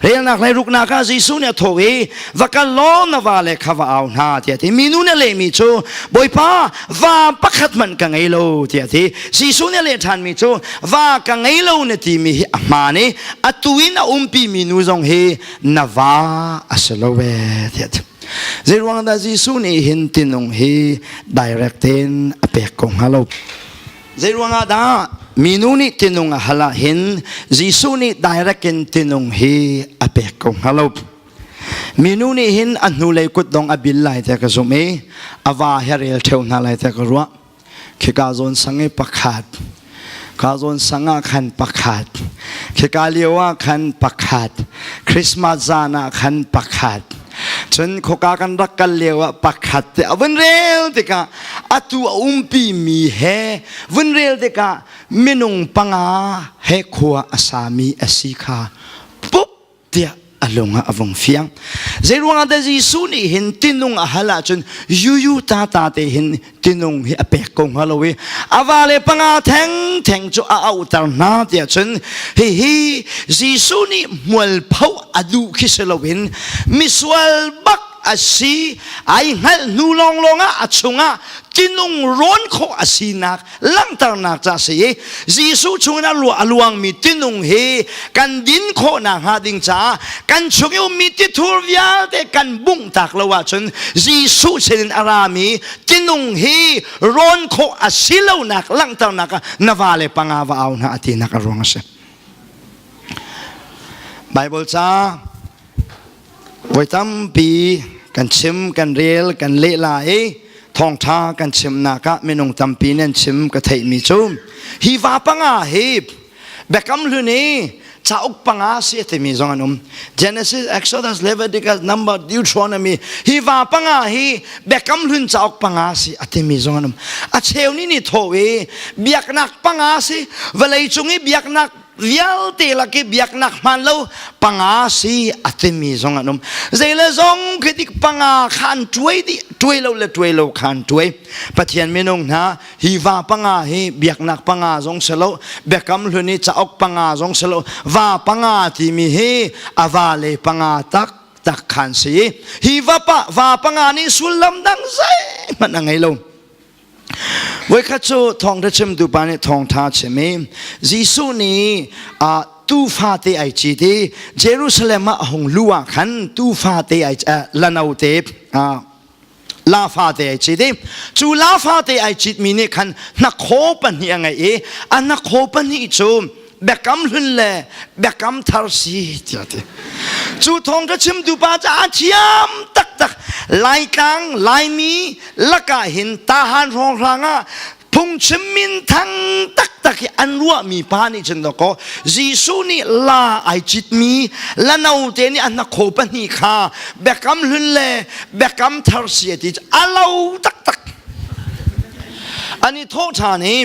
relnak lei ruknak ah Jesuh nih a tho i va kal law na va le kha va au hna tiah ti minu nih a lehmi cu bawipa va pakhat hmanh ka ngei lo tiah ti Jesuh nih a leh ṭhanmi cu va ka ngei lo na timi hi a hmaan i atu in a umpi minu zong hi na va a si lo ve tiah ti zeiruang dah Jesuh nih hin tinung hi direct tein a pek ko hnga lo Zeiruangah dah minu nih tinung a hal ah hin Jesuh nih direct in tinung hi a pek ko hnga lo. Minu nih hin a hnulei kut dong a bil lai te ka zumh i a va he rel theo hna lai te ka ruah. Khi ka zawn sang i pakhat, ka zawn sang ah khan pakhat, khi ka lio ah khan pakhat, Christmas zan ah khan pakhat, cun khoka kan rak kal lio ah pakhat te a vun rel tikah atu a umpi mi he vun rel tikah minung panga he khua a sami a si kha pup tiah a lung ah a vung fiang zeiruangah dah Jesuh nih hin tinung a hal ahcun yuyu ta ta te hin tinung hi a pek ko hnga lo i a va le panga theng theng cu a auter hna tiah cun hihi Jesuh nih mualpho a duh khi si loin misual bak a si ai hngalh hnu lawng lawng ah a chungah tinung rawn khawh a sinak langhternak ca si i Jesuh chungin a luangmi tinung hi kan din khawhnak hnga ding caah kan chung i ummi tithur vialte kan bungh tak lo ahcun Jesuh sinin a rami tinung hi rawn khawh a si lonak langhternak ah na vale panga va au hna a tinak a ruang a si. Bible ca Voi tampi kan chim, kan rel, kan leh la i thawngtha kan chimnak ah minung tampi nih an chim ka theihmi cu hi va panga hi Biakam hlun i cauk panga si a timi zong an um Genesis, Exodus, Leviticus, Numbers, Deuteronomy hi va panga hi Biakam hlun cauk panga si a timi zong an um a cheu nih nih thaw i biaknak panga si vawlei cung i biaknak vialte lak i biaknak hmaan lo panga si a timi zong an um zei le zong khi dik panga khan tuai di tuai lo le tuai lo khan tuai pathian minung hna hi va panga hi biaknak panga zong selo biakam hlun i caok panga zong selo va panga timi hi ava le panga tak tak khan si hi va pa va panga nih sullam dang zei hmanh a ngei lo Voikhat cu thawngṭha chimtu pa nih thawngṭha a chim i Jesuh nih tuu fate ai cit i Jerusalem ah a hung luh ah khan tuu fate ai lanote la fate ai cit i cu la fate ai citmi nih khan hnakhaw pahnih a ngeih i a hnakhaw pahnih cu biakam hlun le biakam thar si tiah ti cu thawng cu chimtu pa ca thiam taktak laitlang laimi lakah hin tahan hrawng hrang ah phungchim min thang taktak i an ruahmi pa nih cun dakaw Jesuh nih la ai citmi la note nih an kho pahnih kha biakam hlun le biakam thar si a ti a lo taktak ani thawh ṭhan i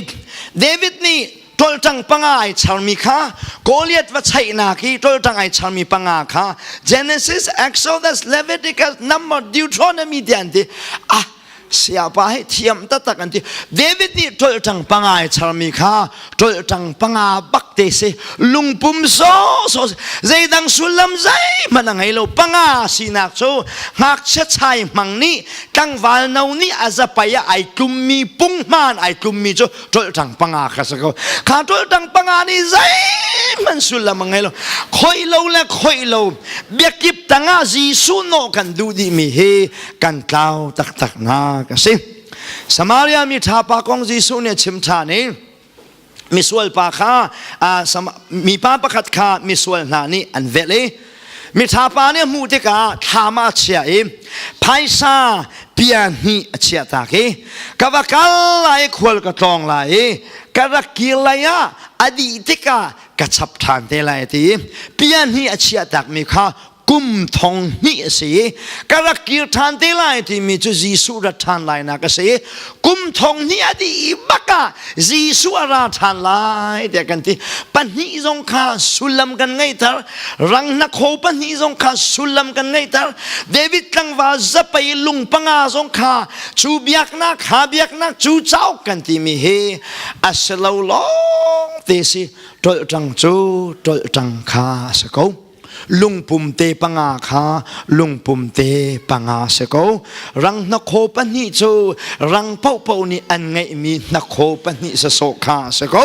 David nih toltang panga ai charmi kha Goliath va chaihnak i toltang ai charmi panga kha Genesis, Exodus, Leviticus, Numbers, Deuteronomy ti an ti ah siapa hi thiam taktak an ti David nih toltang panga ai charmi kha toltang panga bak te si lungpum so so zeidang sullam zeihmanh a ngei lo panga sinak cu ngakchia chai mang nih tlangval no nih a zapai ah ai tlummi punghman ai tlummi cu ṭolṭang panga kha sa ko kha ṭolṭang panga nih zeihman sullam a ngei lo khoi lo le khoi lo biakip tangah Jesuh nawh kan duh dihmi hi kan tlau taktak na ka si Samaria mi ṭha pa kong Jesuh nih a chim ṭhan i misual pa kha mipa pakhat kha misual hna nih an velh i Miṭha pa nih a hmuh tikah thlam ah a chia i phaisa bia hnih a chiah tak i ka va kal lai i khual ka tlawng lai i ka rak kir lai ah a dih tikah ka chap ṭhan te lai ti bia hnih a chiah takmi kha kum thong hnih a si i ka rak kir ṭhan te lai timi cu Jesuh rat ṭhan lainak a si kum thong hnih a dih i bak ah Jesuh a ra ṭhan lai tiah kan ti pahnih zong kha sullam kan ngeihter ranghnak ho pahnih zong kha sullam kan ngeihter David tlangval zapei lung panga zong kha cu biaknak ha biaknak cu cauk kan timi hi a si lo lawng te si ṭolh ṭang cu ṭolh ṭang kha a si ko lungpum te panga kha lungpum te panga se ko rang hnakhaw pahnih cu rang popo nih an ngeihmi hnakhaw pahnih se so kha se ko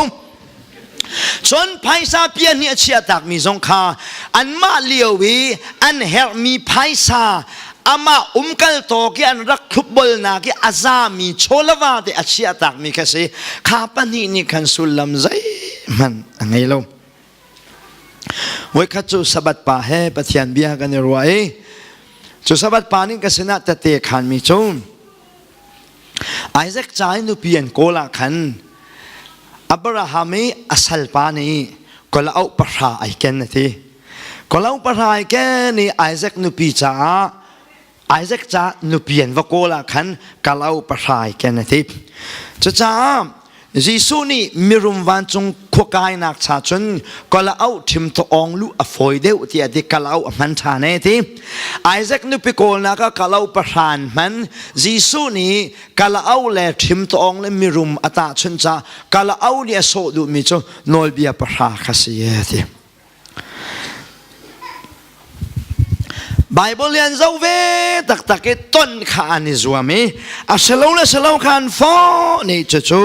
cun phaisa pia nih a chia takmi zong kha anmah lio i an herhmi phaisa amah umkal tawk i an rak thlupbolnak i a zami chawlava te a chia takmi kha si kha pahnih nih khan sullam zeihmanh a ngei lo Voikhat cu Sabbath pa he Pathian bia kan i ruah i cu Sabbath pa nih ka sinah tate khanmi cu Isaac ca i nupi an kawl ah khan Abraham i a salpa nih kolauk pahra ai ken a ti. Kolauk pahra ai ken i Isaac nupi caah Isaac ca nupi an va kawl ah khan kalau pahrai ken a ti. Cucaah Jesuh nih mirum vancung khuakainak cha cun kala auh thim to ong lu a fawi deuh ti a ti kalau a hman ṭhan e ti. Isaac nupi kawlnak a kalau pahran hman Jesuh nih kala au le thim to ong le mirum a ta chun ca kala au li a sawh duhmi cu nawlbia pahra kha si e ti. Bible lian zo ve taktak i ton kha an i zuam i a selo le selo khan fo ni cu cu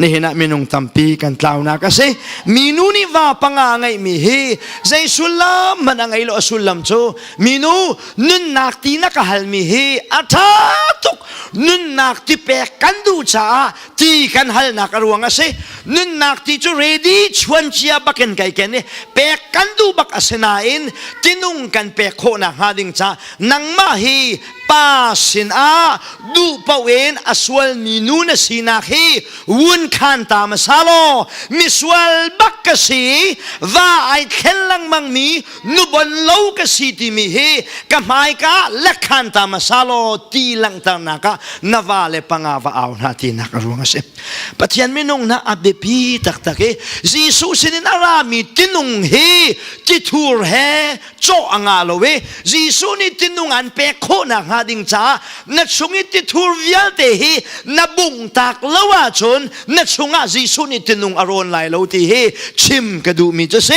nihin ah minung tampi kan tlaunak a si minu nih va panga ngeihmi hi zei sullam man a ngei lo a sullam cu minu nunnak ti na ka halmi hi a tha tuk nunnak ti pek kan duh caah ti kan halnak a ruang a si nunnak ti cu ready chuancia bakin kai ken i pek kan duh bak a si nain tinung kan pek khawhnak hnga ding ca nangmah hi pa sin ah duh in a sualmi nu na sinak hi wun khan ta ma sa law misual bak ka si va ai thlen lengmang mi nuban lo ka si timi hi ka hmaika lekhan ta masalo ti langhternak ah na va le panga va au hna tinak a ruang a si pathian minung na a biapi taktak i jesuh sinin a rami tinung hi tithur he cawh a nga lo i jesuh nih tinung an pek khawhnak hnga ding caah na chung i tithur vialte hi na bungh tak lo ahcun na chungah jesuh nih tinung a rawn lai lo ti hi chim ka duhmi cu si